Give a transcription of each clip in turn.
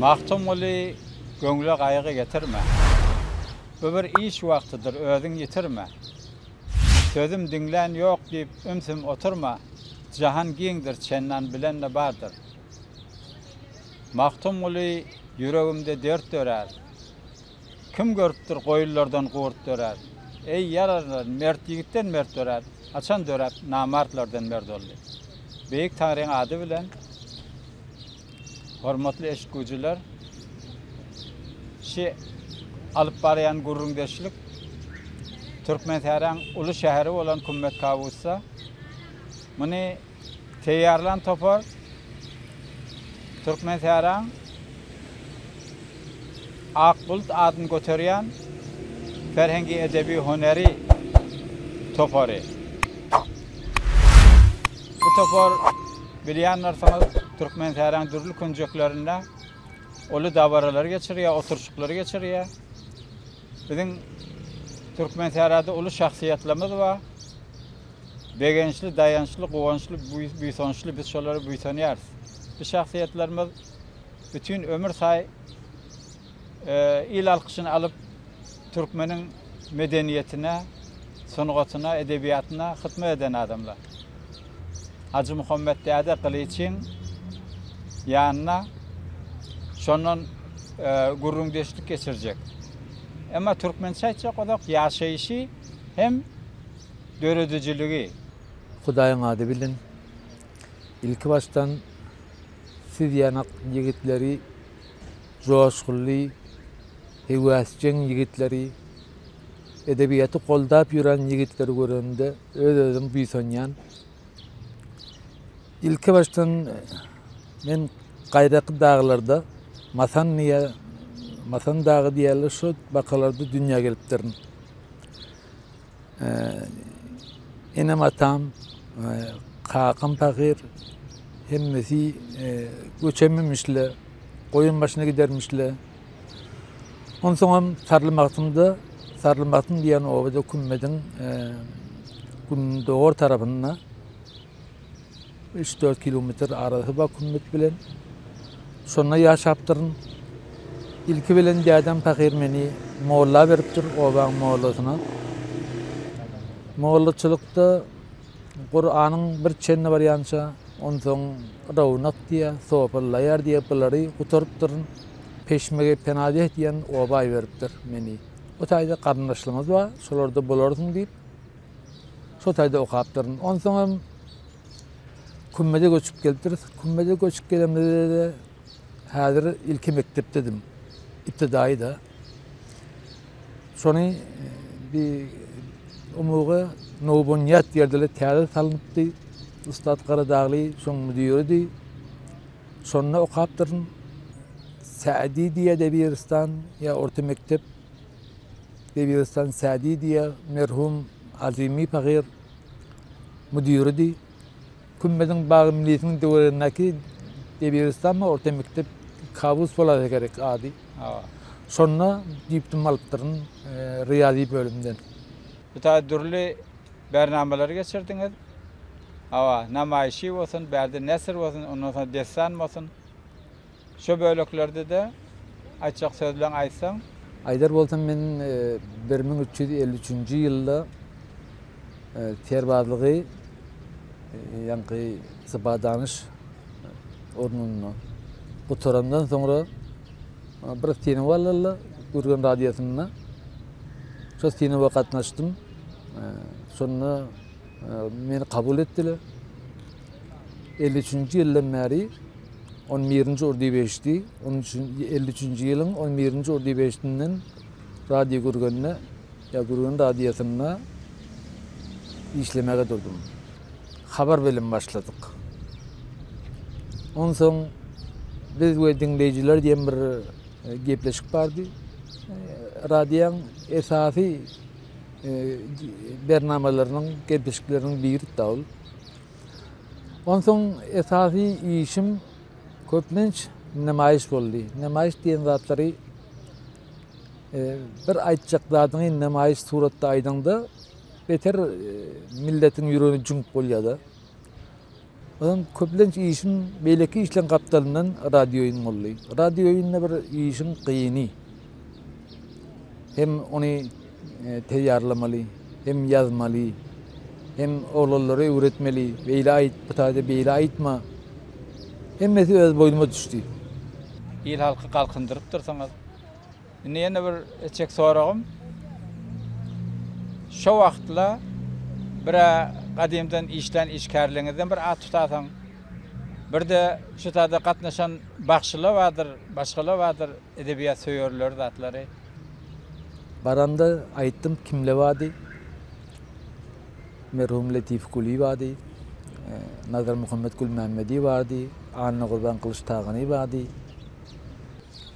Magtymguly, Göwne gaýgy getirme. Bu bir iş wagtydyr, özüň ýitirme. Sözüm diňlän ýok diýip, ümsüm oturma. Jahan giňdir, çendan bilen-de bardyr. Magtymguly, Ýüregimde dert dörär. Kim görüpdir, goýunlardan gurt dörär. Eý, ýararlar, mert ýigitden mert dörär. Haçan döräp, namartlardan mert boldy? Beýik Taňryň ady bilen, hormatly eşitguzylar, şi alyp barýan gürrüňdeşlik Türkmensähräň uly şäheri bolan Kümmet Kawusda. Muny Taýýarlan topar Türkmensähraň Ak bulut adyny göterýän ferhengi-edebi-hünäri topary. Bu topar bilýändirsiňiz, Türkmensähraň dürli künjeklerinde uly dabaralary geçirýär, oturyşyklary geçirýär. Biziň Türkmenserada uly şahsyýetlerimiz bar. Begençli, daýançly, guwançly, buýsançly biz şolara buýsanýarys. Bu şahsyýetlerimiz bütin ömür saý il alkyşyny alyp, türkmeniň medeniýetine, sungatyna, edebiýatyna hytmat eden adamlar. Hajymuhammet däde Gylyçyň ýanyna şondan gürrüňdeşlik geçirjek. Emma türkmençe aýtjak bolsak, ýaşaýşy hem döredijiligi. Hudaýyň ady bilen, ilkibaşdan siz ýanak ýigitleri, joşgunly, heweşjeň ýigitleri, edebiýaty goldap ýören ýigitleri görende öz-özüm buýsanýan. Ilki başdan men gaýraky daglarda Masan diýe Masan dagy diýerler şu bakalarda dünýä gelipdirin. Enem atam, kakam pahyr hemmesi göçememişle, goýun başyna gidermişle. Onsoňam Sarly Magtymda, Sarly Magtym diýen obada kümmediň gündogar tarapynda üç-dört kilometr arasy bar kümmet bilen. Şonda ýaşapdyryn. Ilki bilen dädem pahyr meni molla beripdir, obaň mollasyna. Mollaçylykda Kuranyň bir çenli barýança, onsoň rownak diýýär, sopallaýar diýip, bulary gutarypdyryn. Peşmege penadeh diýen oba iberipdir meni. O taýda garyndaşlarymyz bar, şolarda bolarsyň diýip, şo taýda okapdyryn. Onsoňam Kümmede göçüp gelipdiris. Kümmede göçüp gelenimizde-de häzir ilki mekdepdedim. Iptidaýy-da. Şony e, bi umugy Nowbunýat ýerde-le täze salnypdy. Ussat Garadagly şoň müdiridi. Şonda okapdyryn. Sädi diýýär Debiristan, ýa orta mekdep Debiristan Sädi diýýär. Merhum Azymy pahyr müdiridi. Kümmeziň bagy milisiniň töweregindäki Debiristanmy orta mekdep Kabus bolasa gerek ady. Şonda diplom alypdyryn Ryýazy bölümden. Bu taýda dürli bärnamalary geçirdiňiz. Hawa, namaýşy bolsun, bärde nesir bolsun, ondan soň dessan bolsun. Şu böleklerde-de aýtjak sözleň aýtsaň? Aýdar bolsam, men bir müň üç ýüz elli üçünji ýylda serbazlygy ýaňky sypadanyş ornunda gutarandan soňra bir Sinowalylla Gürgen radiosynda şol synawa gatnaşdym. Şonda meni kabul etdiler. 53-nji ýyldan bäri 11-nji ordy beşdi. 53-nji ýylyň 11-nji ordy beşdinden radio gürgende ýa gürgen radiýasynda işlemäge durdum. Habar bilen başladyk. Onsoň biz we diňleýjiler diýen bir gepleşik bardy. Radioň esasy bernamalarynyň, gepleşikleriniň biri da ol. Onsoň esasy işim köplenç nemaýyş boldy. Nemaýyş diýen zatlary bir aýtjak zadyňy nemaýyş suratda aýdaňda beter milletiň ýüregini jüňüp bolýar-da. Onuň köplenç işiň beýleki işleň gapdalyndan radioýun boldy. Radioýunda bir işiň gyny. Hem ony teýýarlamaly, hem ýazmaly, hem oglanlara öwretmeli, beýle aýt, bu taýda beýle aýtma. Hemmesi öz boýnuma düşdi. Il-halky galkyndyrypdyrsyňyz. Indi ýene bir etjek soragym, şo wagtla bir-ä gadymdan işlän işgärleriňizden bir at tutasaň, bir-de şu sada gatnaşan bagşylar bardyr, başgalar bardyr, edebiýat söýerler zatlary. Baranda aýtdym, kimler bardy? Merhum Letif Kuly bardy, Nazarmuhammet Gulmämmedi bardy, Annagurban Gylyçtagany bardy.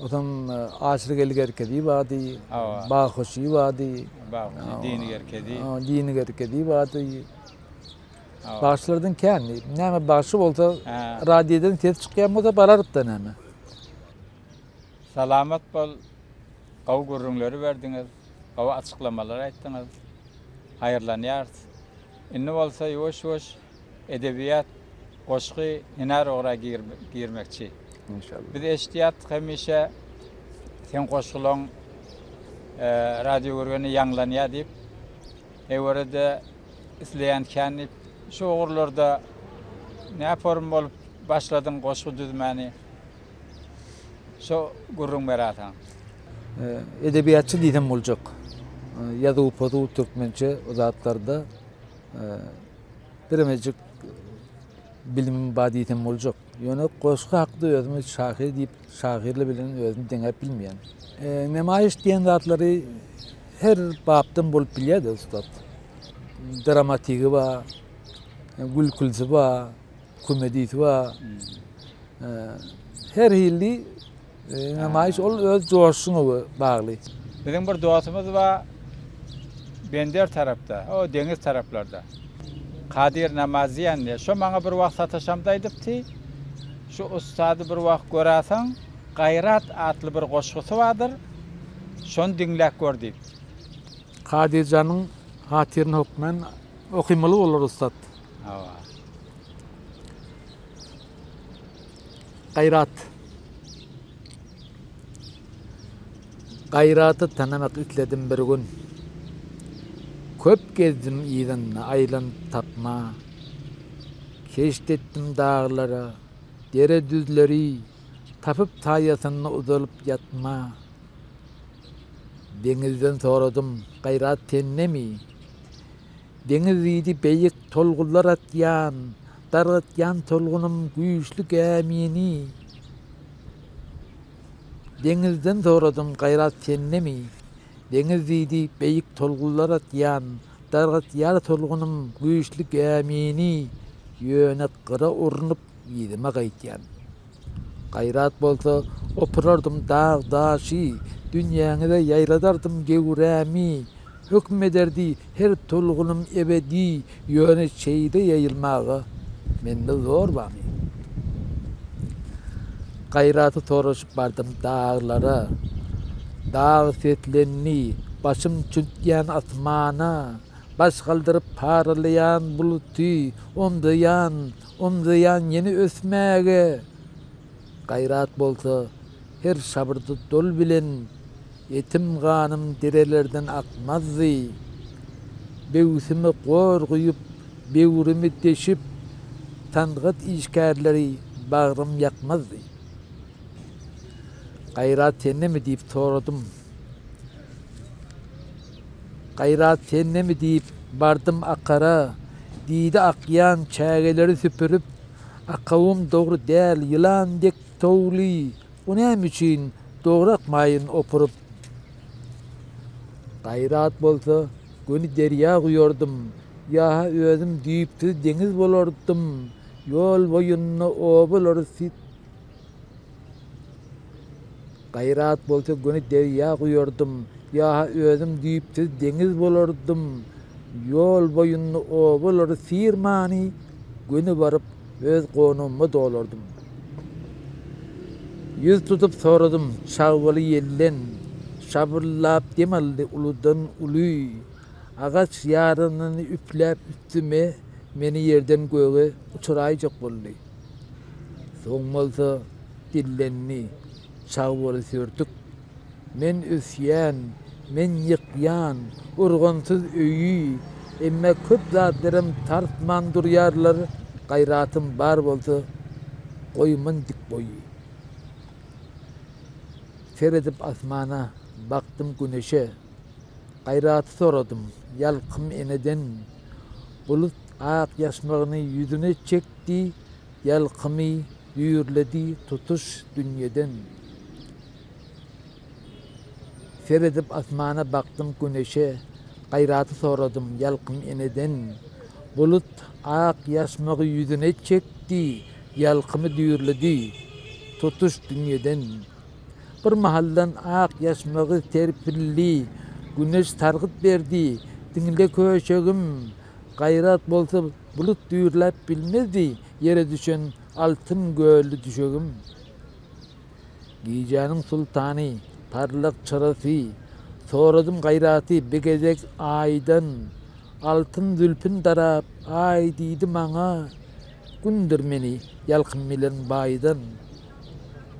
Otaň açlyk eli gerkedi bady, bag hoşy bady. Bag hoşy dini gerkedi. Dini gerkedi bady. Bagşylardan kän. Näme bagşy bolsa, radiyeden ses çıkýan bolsa bararyp da näme. Salamat bol. Gawy gürrüňleri berdiňiz. Gawy açyklamalar aýtdyňyz. Haýyrlanýarys. Indi bolsa ýuwaş-ýuwaş edebiýat, goşgy, hünär ora girmekçi. Enşalla. Biz eşitýärdik hemişe seň goşgulaň radio görgende ýaňlanýar diýip. Ewerede isleýän kän diýip. Şu ugurlarda nä forum bolup başladyň goşgy düzmäni? Şo gürrüň beräýseň. Edebiýatçy diýsem boljak. Ýazuw-pozuw türkmençe o zatlarda. biremejik bilimim bar diýsem boljak. Ýöne goşgy hakda özümi şahyr diýip, şahyrly bilen özümi deňäp bilmeýän. E, nemaýyş diýen zatlary her bapdan bolup bilýär-de ussat. Dramatigi bar, gülkülisi bar, komedisi bar. E, her hilli Nemaýyş ol öz joşuňa bagly. Biziň bir dostumyz bar Bender tarapda, o deňiz taraplarda. Kadir namaz diýen diýe. Şo maňa bir wagt sataşamda aýdypdy. Şu ussady bir wagt göräseň, Gaýrat atly bir goşgusy bardyr. Şony diňläp gör diýip. Kadirjanyň hatyryna hökmän okymaly bolar ussat. Hawa. Gaýrat. Gaýraty tanamak isledim bir gün. Köp gezdim yzynda aýlanyp tapma. Keşt etdim daglara, dere düzleri, tapyp saýasynda uzalyp ýatma. Deňizden soradym, gaýrat sendemi? Deňiz diýdi beýik tolgunlar atýan, dargatýan tolgunym güýçli gämini. Deňizden soradym gaýrat sendemi? Deňiz diýdi beýik tolgunlar atýan, dargatýar tolgunym güýçli gämini. Ýöne gyra urnup Yzyma gaýtýan. Gaýrat bolsa, opurardym dag-daşy, Dünýäňize ýaýradardym göwrämi. Höküm ederdi her tolgunym ebedi, Ýöne çeýde ýaýylmaga mende zor bamy? Gaýraty soraşyp bardym daglara, Dag seslendi, başym çüňkýän asmana, Baş galdyryp paralaýan buluty omzaýan, Omzaýan ýene ösmäge gaýrat bolsa, her şabyrdy dol bilen etim ganym derelerden akmazdy. Böwsümi gor guýup, böwrümi deşip, sangat işgärleri bagrym ýakmazdy. Gaýrat sendemi diýip soradym. Gaýrat sendemi diýip, bardym Akara. Diýdi Akjan çägeleri süpürip, Akawym dogry däl, ýylan dek towly, bu näme üçin dograkmaýyn opuryp. Gaýrat bolsa, göni derýa guýardym, ýa-ha özüm düýpsüz deňiz bolardym, ýol boýunda obalary Gaýrat bolsa göni derýa guýardym, ýa-ha özüm düýpsüz deňiz bolardym. Ýol boýunda obalary syrmany, göni baryp, öz gonamyma dolardym. Ýüz tutup soradym, çagbaly ýelden, şabyrlap dem aldy uludan-uly. Agaç ýaranyny üfläp üstüme, meni ýerden göge uçuraýjak boldy. Soň bolsa dillendi, Çag bol Sürtük. Men ösýän, men ýykýan urgansyz öýi, emma köp zatlaram tartman durýarlar, gaýratym bar bolsa, goýman dik boýy. Seredip asmana, bakdym Güneşe. Gaýraty soradym, ýalkym eneden. Bulut ak ýaşmagyny ýüzüne çekdi, ýalkymy düýrledi tutuş dünýeden. Seredip asmana bakdym güneşe, gaýraty soradym, ýalkym eneden. Bulut ak ýaşmagy ýüzüne çekdi, ýalkymy düýrledi tutuş dünýeden. Bir mahaldan ak ýaşmagy serpildi, Güneş sargyt berdi, Diňle köşegim, gaýrat bolsa bulut düýrläp bilmezdi, Ýere düşen altyn gölli düşegim. Gijäniň sultany, parlak çyrasy, Soradym gaýraty bir gezek Aýdan, Altyn zülpin darap, Aý diýdi maňa, Gundyr meni ýalkym bilen baýdan.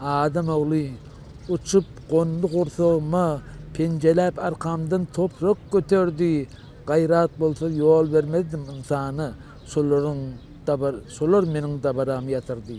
Adam ogly, uçup gondy gursagyma, penjeläp arkamdan toprak göterdi, gaýrat bolsa ýol bermezdim ynsana, şolaryň dabar, şolar meniň dabaramy ýatyrdy.